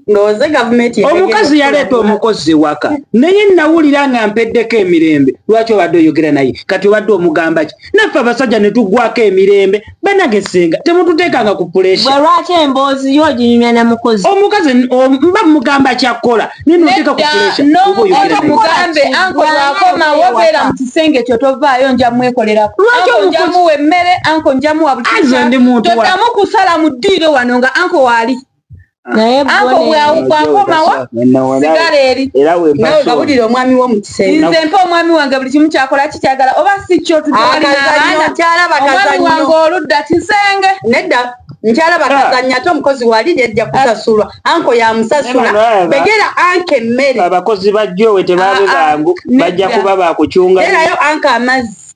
S4: ndowooze gavumenti omukazi yaleeta
S5: omukozi ewaka naye nawulira nga mpeddeko emirembe lwaki obadde oyogera naye kati obadde omugamba ki naffe abasajja ne tuggwako emirembe banage senga temututeekanga ku pulesha bwe lwaki emboozi
S6: yo oginyumya ne mukozi omukazi mba
S5: mugamba kyakkola naye noteeka ku pulesha mugambe
S1: anko lwakomawo beera mu kisenge kyo tovaayo nja mwekolerako njamuwa emmere anko njamuwa buli kisa todamu kusala mu ddiiro wano nga anko waali
S6: anko
S1: bwawukwakomawo sigala eri nawe gabulira
S4: omwami wo mukisenze mpa omwami wange buli
S1: kimu kyakola kikyagala oba si kyo tukyalabaomwami wange oludda kisenge nedda
S4: nkyala bakazanya ate omukozi wali yajja kusasulwa anko yamusasula begera anka emmere abakozi bajjowe
S5: tebabe bangu bajja kuba bakucungaerayo anka amazzi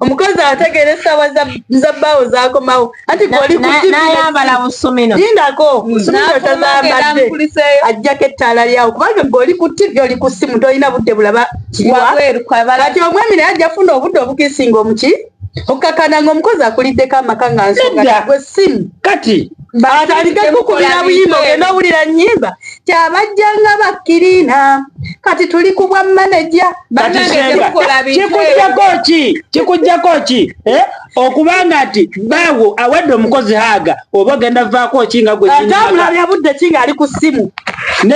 S4: omukazi ategeera essaawa za bbaawo zakomawo anti goli nayambala
S6: busumino lindako busumino
S4: tazambadde ajjako ettaala lyawo kubanga goli ku tivi oli ku ssimu tolina budde bulaba kati omwami naye ajja funa obudde obukisinga omuki okukakana ngaomukozi akuliddeko amaka nga nsonga gwe ssimu kati
S5: batandike
S4: kukubira buyimba ogenda owulira nyimba kyabajja nga bakkiriina kati tuli ku bwa maneja kikujjako
S5: ki kikujjako ki eh? okubanga nti baawo awadde omukozi haaga oba ogenda vaako ki nga gwetambulabya budde ki
S4: ngaali ku ssimu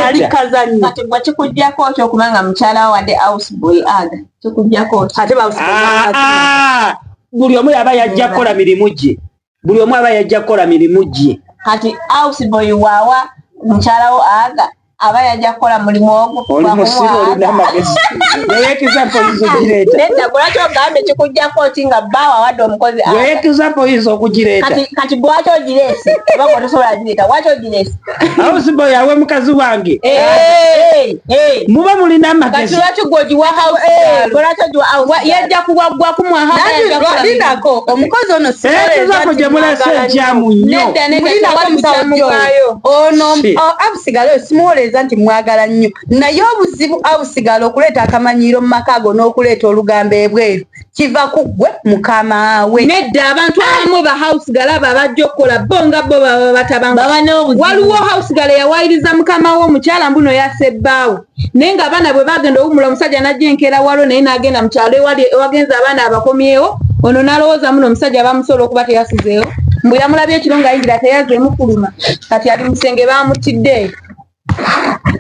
S4: ali kazanyo kati gwe kikujjako
S6: ki okubanga mukyala wawadde ausboy aga kikujjako ki ate ah,
S4: ah. buli
S5: omu yaba yajja kukola mirimu gye buli omu aba yajja kukola mirimu gye kati ausboy
S6: wawa mukyalawo aga aba yajja kukola mulimu ogwoekizaoyinzaokugireetalwaki ogambye kikujjako ti nga baawo awadde omukozi ekizaoyinza okugireeta kati lwaki ogireese oba otosobola gireeta lwaki ogireese house boy awe
S5: mukazi wange eh, eh, eh. muba mulina amagezi
S1: yajja kuwaggwaku mwahalinako
S4: omukozi ono sizako gye mulese
S5: ekyamu nnyo ono
S4: abusigala oyo simuwoleeza nti mwagala nnyo naye obuzibu abusigala okuleeta akamanyiiro mu maka ago n'okuleeta olugambo ebweru kiva ku ggwe mukamaawe nedda abantu abamu
S1: ba house galaba bajja okukola bo nga bo baba batabawaliwo house gala yawayiriza mukama we omukyala mbuno yasebbaawo naye nga abaana bwe bagenda owumula omusajja najja enkeera walo naye nagenda mukyalo ewagenza abaana abakomyewo ono nalowooza muno omusajja bamusobola okuba teyasizeewo mbu yamulabye ekiro nga yingira teyazeemu kuluma kati ali musenge bamutiddeeyo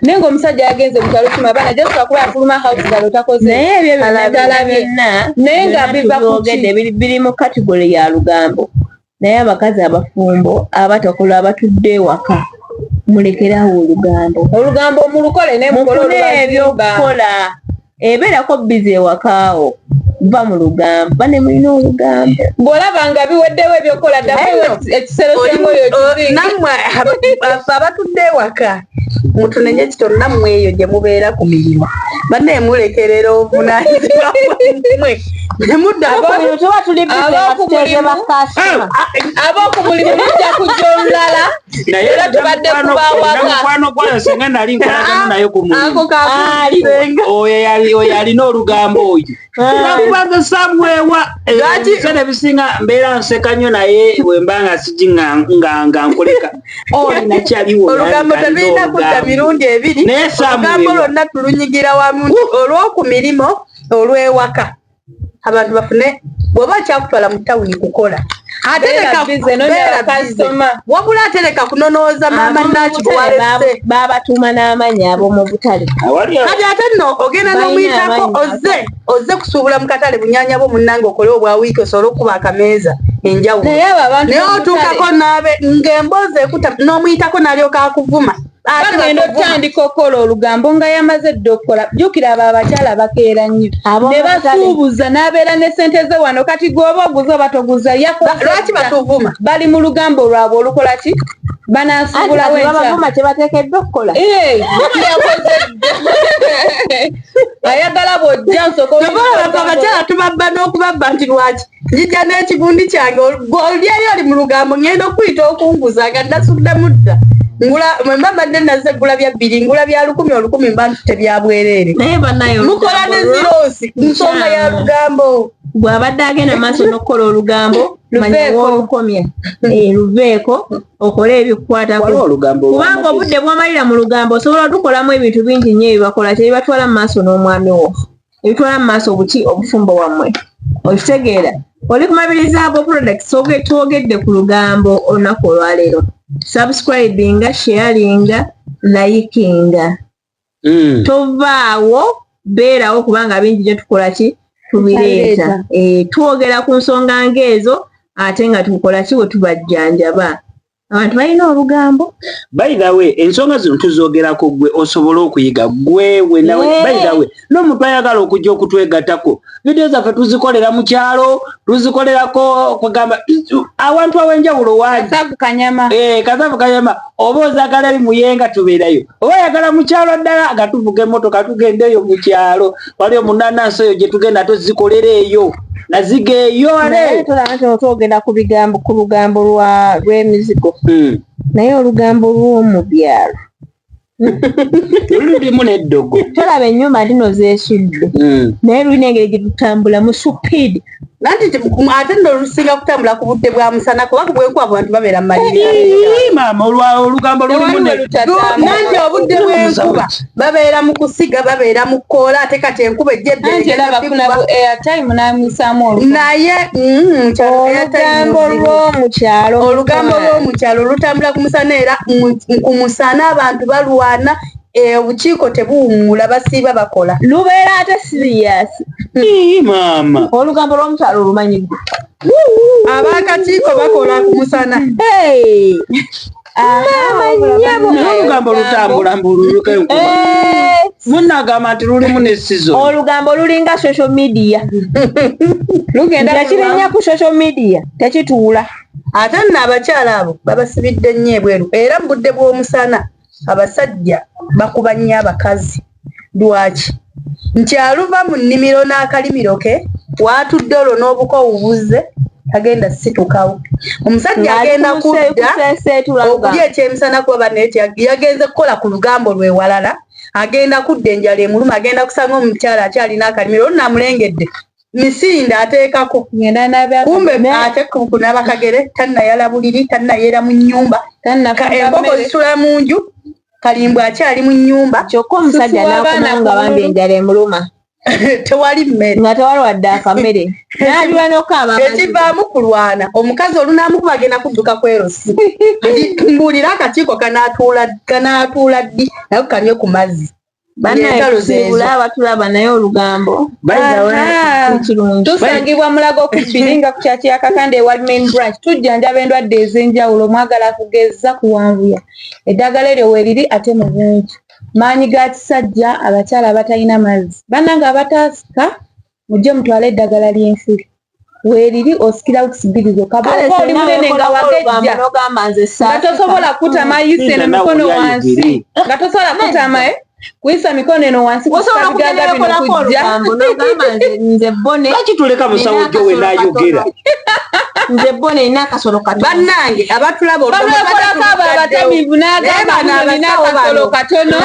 S1: naye ngaomusajja yagenze mukyalo kima abaana just akuba afuluma house galo takoze naye ebyo byonadala
S6: byonna naye nga
S1: biva kugende biri mu
S6: kategole ya lugambo naye abakazi abafumbo abatakola abatudde ewaka mulekerawo olugambo olugambo mulukole naye mukole
S1: ebyokukola
S6: ebeerako bizi ewakaawo va mu lugambo bane mulina olugambo bw'olaba nga
S1: biweddewo ebyokukola ddaekiseronammwe
S4: abatudde ewaka mutunenye kito nammwe eyo gye mubeera ku mirimu bane mulekerera obunanyizibwa mwe
S1: ab'oku mulimu mujja kujja olulala naye era tubadde kubawamukwano
S5: gwayo senga nali nkolagana ah, naye ku mulimuoyo yalina olugambo oyo nakubaga ah. samwewa ebisana ebisinga mbeera nseka nyo naye wemba nga siji nga nkuleka olinakyaliwoolugambo tebirina
S4: kudda mirundi ebiri olugambo lwonna tulunyigira wamu olwoku mirimu olwewaka abantu bafune bwoba akyakutwala mu tawuni kukola wabula atereka kunonooza maama naki babatuma
S6: n'amanyi ab'omu butale kati ate
S4: nno ogenda n'omuyitako ozze ozze kusuubula mu katale bunyanya bwo munnange okole obwa wiiki osobole okukuba akameeza enjawulo naye otuukako naabe ng'emboozi ekuta n'omuyitako n'alyoka akuvuma bagenda
S1: okutandika okukola olugambo nga yamaze dda okukola jukira abo abakyala bakeera nnyo ne basuubuza n'abeera ne sente ze wano kati gweoba oguza oba toguza yakolwaki batuvuma
S4: bali mu lugambo
S1: lwabwe olukola ki banasuubulawo enkya
S6: kyebateekeddwa okukola
S4: ayagala
S1: bwojja
S4: nsokoabakyala tubabba
S1: n'okubabba
S4: nti lwaki njija n'ekivundi kyange olyeyo oli mu lugambo ngenda okuyita okunguza nga nasudde mudda ngula mwemba mbadde naze gula bya bbiri ngula bya lukumi olukumi mba ntute bya bwereere mukola ne ziroosi nsonga ya lugambo bw'abadde agenda
S6: maaso n'okukola olugambo manyiwolukomya eh, luveeko okole ebikukwatako kubanga obudde bwomalira mu lugambo osobola otukolamu ebintu bingi nnyo ebibakola tebibatwala mu maaso n'omwami wo ebitwala mu maaso obuki obufumbo wammwe okitegeera oli kumabiriza ago products twogedde ku lugambo olunaku olwaleero subscribinga sharinga layikinga hmm. tovaawo beerawo kubanga bingi gye tukola ki tubireeta eh, twogera ku nsonga ngaezo ate nga tukola ki we tubajjanjaba abantu balina olugambo bayidawe
S5: ensonga zino tuzogerako gwe osobole okuyiga gwewe nawe bayidawe n'omuntu ayagala okujja okutwegatako vidiyo zaffe tuzikolera mu kyalo tuzikolerako kugamba awantu awenjawulo wakazavu kanyama eh, oba ozagala eri muyenga tubeerayo oba ayagala mu kyalo ddala nga tuvuga emotoka tugendeeyo mu kyalo waliyo munanansi oyo gye tugenda tuzikolera eyo nazigeyoleotogenda
S6: ku bigambo ku lugambo lwemizigo hmm. naye olugambo lwomubyalo
S5: lulimu neddogo tolaba enyumba ndino
S6: zesudde hmm. naye lulina engeri gyetutambula mu supidi nanti
S4: ate no lusinga kutambula ku budde bwa musana kuba kubwenkuba abantu babeera mu malimaama
S5: olugambo lulimu nanti
S4: obudde bwenkuba babeera mu kusiga babeera mu kkoola ate kati enkuba ejjenaye mm, olugambo lw'omukyalo olutambula ku musana era ku musana abantu balwana e, obukiiko tebuwumuula basiiba bakola lubeera ate
S6: sirias maama
S5: olugambo lw'omukyalo
S6: olumanyi abakakiiko
S4: bakola ku musana
S5: olugambo lutambula mbuluyuka enkuba eh. munagamba nti lulimu nesizo olugambo lulinga
S6: social media lugendakirinya ku social media tekituula ate nno
S4: abakyala abo babasibidde nnyo ebweru era mu budde bw'omusana abasajja bakuba nnyo abakazi Lwaki? Nti aluva mu nnimiro n'akalimiro ke w'atudde olwo n'obukoowu buzze tagenda situkawo. Omusajja agenda kudda okulya ekyemisana kuba banne yagenze kukola ku lugambo lwe walala, agenda kudda enjala emuluma, agenda kusanga omukyala akyalina akalimiro olwo namulengedde misinde ateekako kumbe ate kunaaba kagere tannayala buliri, tannayeera mu nnyumba, embogo zisula mu nju. kalimbwe akyali mu nnyumba kyokka omusajja
S6: n'akomawo nga bambi enjala emuluma tewali
S4: mmere nga tewali wadde akamere
S6: naliwa nokaaba ekivaamu kulwana
S4: omukazi olunamukuba agenda kudduka kwerosi mbuulira akakiiko kanaatuula ddi naye kanywe ku mazzi banaebula
S6: abatulaba naye olugambo
S1: tusangibwa mulago kubbiri nga kukyaki yakakanda ewali main branch tujjanjaba endwadde ez'enjawulo mwagala kugeza kuwanvuya eddagala eryo weriri ate mu bungi maanyi ga kisajja abakyala abatalina mazzi bananga abataasika mujje mutwale eddagala ly'ensiri weeriri osikira wikisi bbiri zokka bwoba oli munene nga wagejja nga tosobola kutama mm. yisa eno mikono wansi nga tosobola kutama eh? kuyisa mikono eno wansi kusabigaga bino kujja lwaki
S6: tuleka musawo
S5: jo we nayogera nze
S6: bo nina akasolo kato bannange abatulaba
S4: olwokolako abo
S1: abatamivu n'agamba nina akasolo katono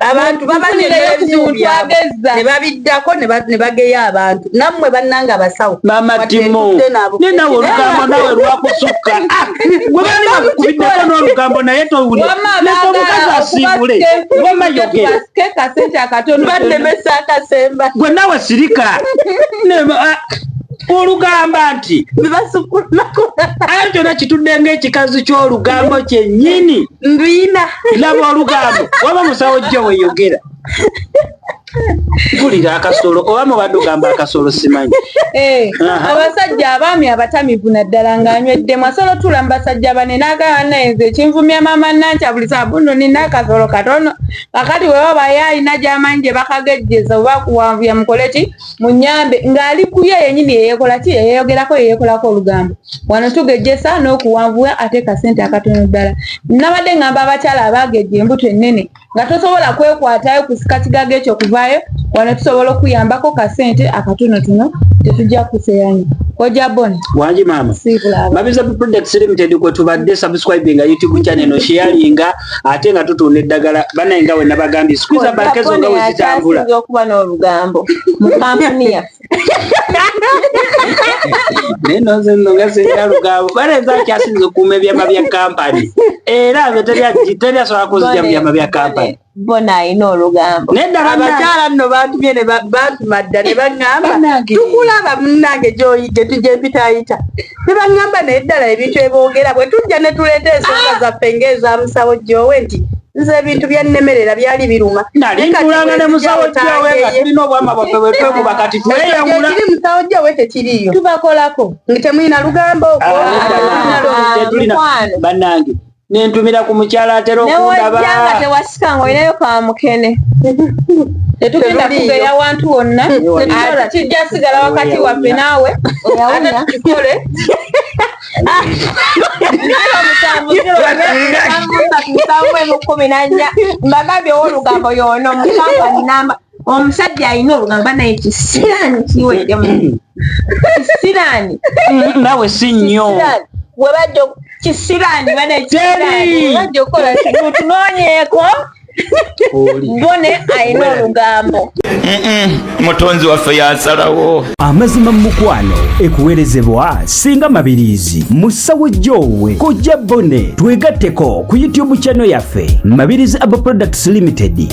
S1: abantu
S4: babanebabidako nebageya abantu namwe bananga abasawo mamatimonenawe
S5: olugambo nawe lwakusukka gwebanibakubideko nolugambo naye towuliomukazi asiibule
S1: wamayogeeaemesakasemba
S4: gwe nawe sirika
S5: olugamba nti ayo kyona kitudde ngaekikazi kyolugambo kyenyini nduyina
S4: laba olugambo
S5: waba musawo jjo weyogera mpulira akasolo oba mubadde ogamba akasolo simanyi eh,
S1: abasajja abaami abatamivu naddala nga anyweddemu asolo tula mu basajja bane nagaanaenze ekinvumya maama nankya buli sabuno nina akasolo katono kakati webaba yaalina gyamanyi gye bakagejjeza oba kuwanvuya mukole ki munyambe ng'ali kuye yenyini yeyekola ki yeyeyogerako yeyekolako olugambo wano tugejjesa n'okuwanvuwa ate kasente akatono ddala nabadde ngamba abakyala abaagejja embuto ennene nga tosobola kwekwatayo kusika kigaga ekyo kuvaayo wano tusobola okuyambako kasente akatonotono tetujja kuseyanyo koja bon wangi maama
S5: mabiza products limited kwetubadde subscribinga youtube channel no sharinga ate nga tutunda eddagala banaye nga we nabagambye sikuza banka ezo nga wezitambula okuba n'olugambo
S6: mu kampuni yaffe
S5: naye nozenno nga zirina lugambo bana enza akyasinza okuuma ebyama bya kampani era nze teri asobola kuzija mu byama bya kampani bona alina
S6: olugambo abakyala
S4: nno bantumye bantuma dda ne baŋŋamba tukulaba munnange gy'oyite tujempitayita Ne baŋŋamba naye ddala ebintu eboogera bwe tujja ne tuleeta ensonga zaffe ng'eza musawo Joowe nti nze ebintu byannemerera byali biruma Nali ntulanga ne
S5: musawo Joowe nga tulina obwama bwaffe bwe twekuba kati tweyawula. Ekiri musawo Joowe
S4: tekiriiyo. Tubakolako. Nti
S1: temulina lugambo?
S4: Tetulina.
S5: Bannange. nentumira ku mukyala atera okundabanga tewasika nga
S6: olinayo kamukene
S1: tetugenda kugeya wantu wonna kijja sigala wakati waffe naawe ate tukikole
S6: mbagambye owolugambo yono mukamba namba omusajja alina olugambo banaye kisiraani kiweddemu kisiraani nawe
S5: si nnyo webajja
S6: kisiraani banaye kisiraani webajja okukola tunoonyeeko bone alina olugambo
S2: mutonzi waffe yasalawo amazima mumukwano
S3: ekuwerezebwa singa mabirizi musawo jowe kojja bone twegatteko ku youtube channel yaffe mabirizi abo products limited